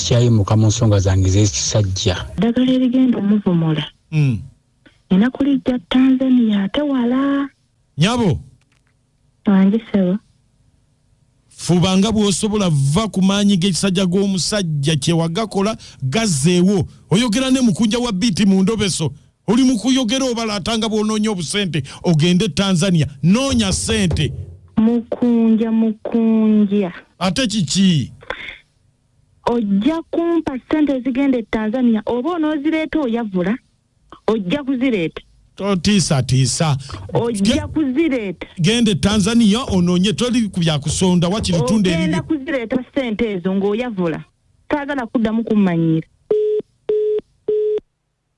sikyayimuka mu nsonga zange z'ekisajja ddagala erigenda omuvumula hmm. nina kulijja tanzania ate wala nyabo wange sebo fuba nga bw'osobola va ku maanyi g'ekisajja g'omusajja kyewagakola gazeewo oyogera ne mukunja wa biiti mu ndobeso oli mu kuyogera obalaata nga bw'onoonya obusente ogende e tanzania noonya sente mukunja mukunja ate kiki ojja kumpa sente ezigenda e tanzania oba onoozireeta oyavula ojja kuzireeta totiisatiisa ojja kuzireeta genda e tanzania onoonye toli ku byakusonda wakiri tunda ogenda kuzireeta sente ezo ng'oyavula saagala kuddamu kummanyiira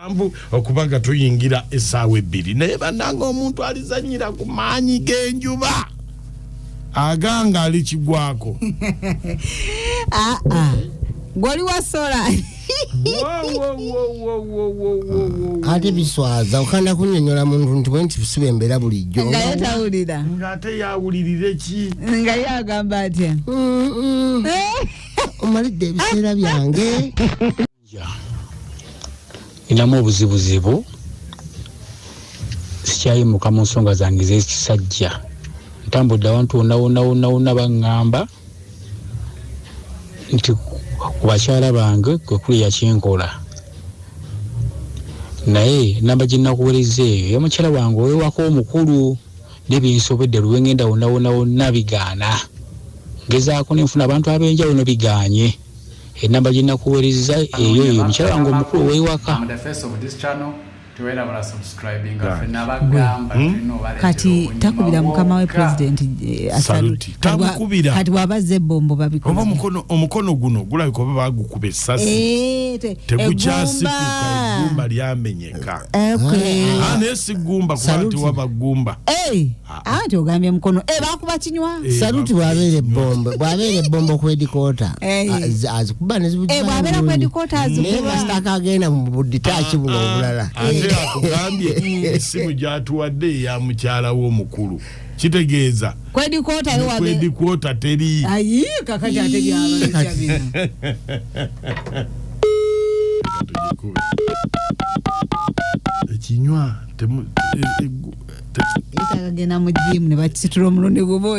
musanvu okuba nga tuyingira essaawa ebbiri naye bananga omuntu alizanyira ku maanyi g'enjuba aganga ali kigwako ah, ah. gwoli wasola ate biswaza okanda kunyonyola muntu nti bwenti busiba embeera bulijjo nga ye tawulira nga ate yawulirire ki nga ye agamba atya omalidde ebiseera byange ninamu obuzibuzibu sikyayimuka mu nsonga zange z'ekisajja ntambudde awantu wonawonawonawona baŋŋamba nti ku bakyala bange kwe kuli yakinkola naye namba gye nakuwereza eyo ya mukyala wange owewako omukulu nebinsobedde luwengenda wonawonawona bigaana ngezaako nenfuna abantu ab'enjawulo biganye enamba gyenakuwerezza eyo eyo mukyala wange omukulu oweiwaka kati takubira mukama we president eh, kati waba azza ebombo babikomukono guno gulabika oba bagukuba esasi eh, tegukyasikukaegumba lyamenyeka eh, ah, naye sigumba kuba tiwaba gumba Ah, ah. anti ogambye mukono eh, bakuba kinywa eh, saluti bwabeera ebbombo bwabeera ebbombo kwedikoota eh. ah, azikuba nezibwabeera kwedikoota azikubaasitaka agenda mu buditaaki buno obulala ate akugambye esimu gyatuwadde eya mukyala wo omukulu kitegeeza kwedikoota teri ekinywa yetagagenda mu jiimu ne bakisitula omulundi gumu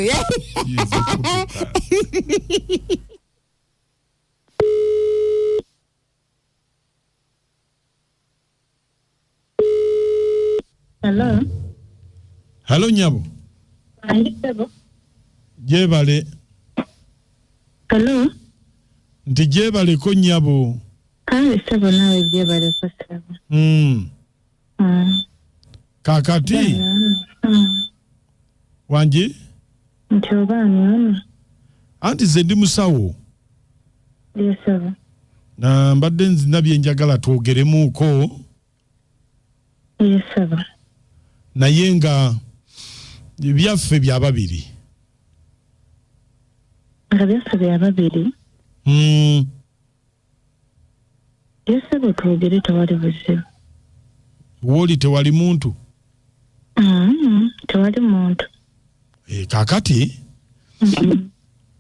halo nyabo jebale nti jebaleko nyabo kale sebo nawe jebaleko sebo mm. Mm. kakati Mm. wangi nti oba anyono anti ze ndi musawo yesaba na mbadde nzina byenjagala twogeremuuko yesaba naye nga byaffe bya babiri nga byaffe bya babiri Mm, yesebo twogere tewali buzibu woli tewali muntu mm-hmm. tewali muntu eh, kakati mm-hmm.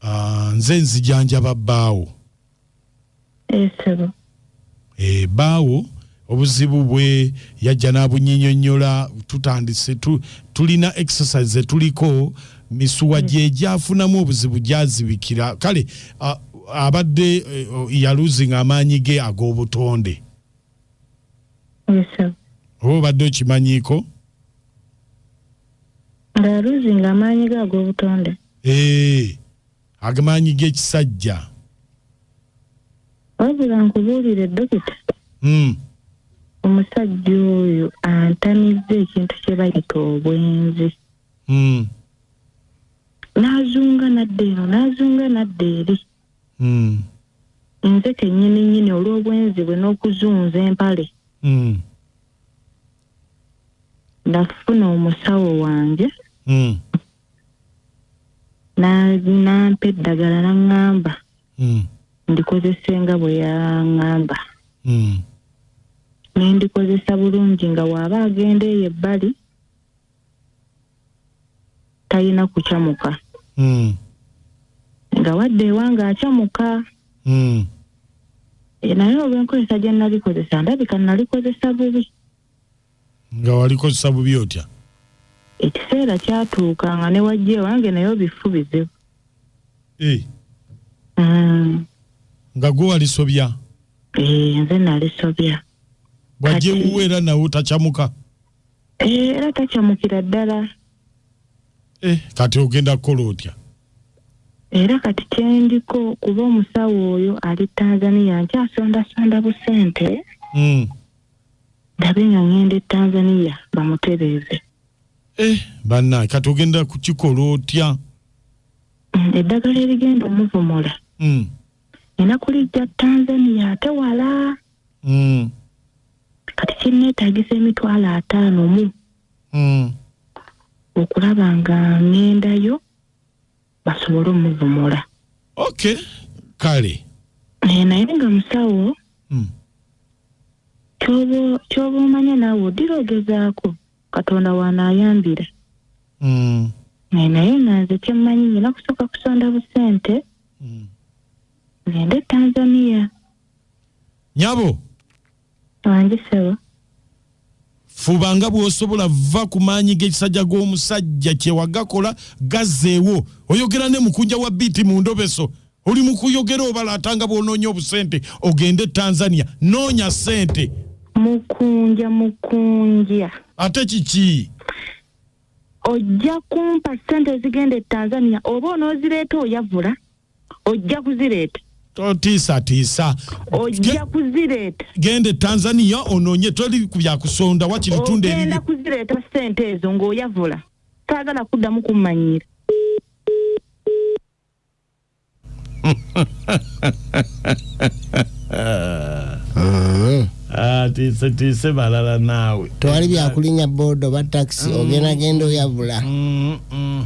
ah, nze nzijanjaba baawo esebo eh, baawo obuzibu bwe yajja n'abunyinyonnyola tutandise tu, tulina exercise zetuliko misuwa gyegyafunamu mm. obuzibu gyazibikira kale uh, abadde eh, oh, yaluzinga amaanyi ge ag'obutonde oba obadde okimanyiiko ngaaluzinga amaanyi ge ag'obutonde ee eh. agamaanyi g'ekisajja wabula nkubuulire dokita hmm. omusajja oyo antamizza ekintu kye bayita obwenzi hmm. n'azunga nadda eno n'azunga nadda eri hmm. nze kennyini nnyini olw'obwenzi bwe n'okuzunza empale nafuna omusawo wange Na- nampa eddagala naŋŋamba Mm. ndikozese nga bwe yaŋŋamba Mm. ne ndikozesa bulungi nga waaba agenda eyo ebbali talina kucamuka Mm. nga wadde ewanga acamuka Mm. Eh, naye olw'enkozesa gye nalikozesa ndabika nalikozesa bubi nga walikozesa bubi otya ekiseera kyatuuka nga ne wajja ewange naye obifu bizibu eh. mm. nga gwe walisobya eh, nze nalisobya bwajja ewuwe era nawe takyamuka eh, era takyamukira ddala kati ogenda kukola otya era kati kyendiko kuba omusawo oyo ali tanzania nkyasondasonda busente mm. ndabe nga ngenda e tanzania bamutereeze eh, banna kati ogenda kukikola otya mm, eddagala erigenda omuvumula mm. ena kulijja tanzania ate wala mm. kati kinneetagisa emitwalo ataano mu mm. okulaba nga ngendayo basobole omuvumula okay kale Eh, naye nga musawo Mm. kyoba kyoba omanya naawe odira ogezaako katonda waanaayambira Mm, Eh, naye nga nze kyemmanyi nyina kusooka kusonda busente mm. ngende e tanzania nyabo andisebo fuba nga bwosobola vva ku maanyi g'ekisajja g'omusajja kyewagakola gazeewo oyogera ne mukunja wa biiti mu ndobeso oli mu kuyogera obala ata nga bwonoonya obusente ogende e tanzania noonya sente mukunja mukunja ate kiki ojja kumpa sente ezigenda e tanzania oba onoozireeta oyavula ojja kuzireeta totiisatiisa ojja kuzireeta genda e tanzania onoonye toli ku byakusonda wakiri tunda ogenda kuzireeta sente ezo ng'oyavula taagala kuddamu kummanyiira atiisatiise ah, balala naawe tewali byakulinya boodo ba takisi mm. ogenda genda oyavula mm, mm.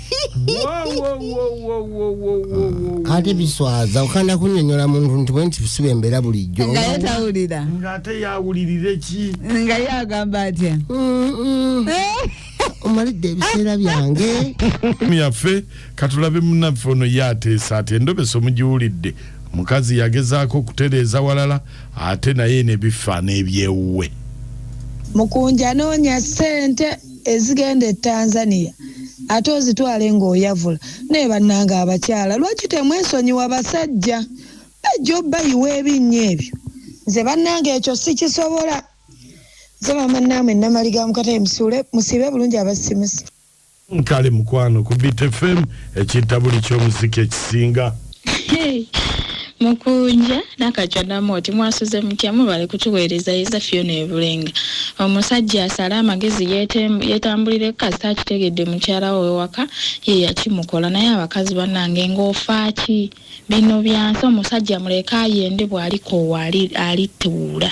ate biswaza okanda kunyonyola muntu nti bwe nti siba embeera bulijjo nga ye tawulira ng'ate yawulirire ki nga ye agamba atya omalidde ebiseera byange yaffe katulabe munaffe ono ye ateesa ati endobesa omugiwulidde mukazi yagezaako okutereeza walala ate naye nebifaana ebyewuwe mukunja noonya ssente ezigenda e Tanzania ate ozitwale nga oyavula naye banange abakyala lwaki temwesonyiwa basajja bajja obayiwa ebinnya ebyo nze banange ekyo sikisobola nze mama namwe namali ga mukatayi musule musibe bulungi abasimusi kale mukwano ku btfm ekintabuli kyomuziki ekisinga mukunja nakajja namooti mwasuze mutya mubale kutuweereza yeza fyona ebulenga omusajja asale amagezi yetambulire kasita akitegedde mukyala we wewaka ye yakimukola naye abakazi banange ng'ofaaki bino byansi omusajja muleke ayende bw'alikoowa alituula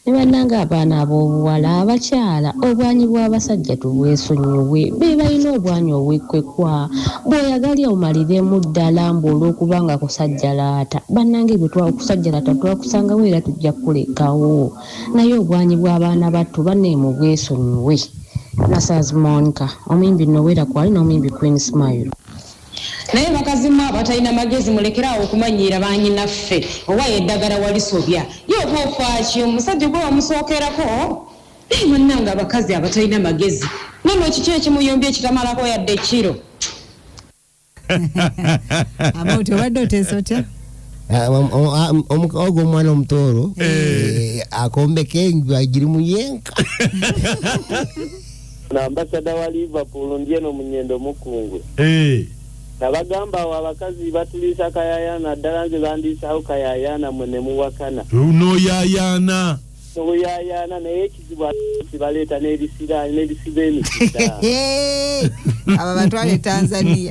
Naye banange abaana abobuwala abakyala obwanyi bwabasajja tubwesonyiwe bebalina obwanyi obwekwekwa bwoyagalya omaliremu ddala mbu olwokuba nga kusajjalaata banange byetwa okusajjalaata twakusangawo era tujja kukulekawo naye obwanyi bwabaana battu bane mubwesonyiwe Nasaazi Monica omuyimbi Nowera Kwali n'omuyimbi Queen Smile. Naye bakazi mwe abatalina magezi mulekere awo okumanyiira banyinaffe oba edagara walisobya ye oba ofaaki omusajja gwe wamusookerako naye banange abakazi abatalina magezi nono kiki ekimuyombya ekitamalako yadde ekkiro Amount obadde oteesa otya? Ah, om- om- ah, om- omu- ogo omwana omutooro eh, akombeka enju agiri muyenka na ambasada wa liverpool ndi eno munyendo mukungwe Eh, nabagamba awo abakazi batuliisa kayayana ddala nze bandiisaawo kayayana mwe ne muwakana noyayaana obuyayana naye ekizibu abakazi baleeta n'ebisiraani n'ebisiba emikisa Hehe. abo batwale tanzania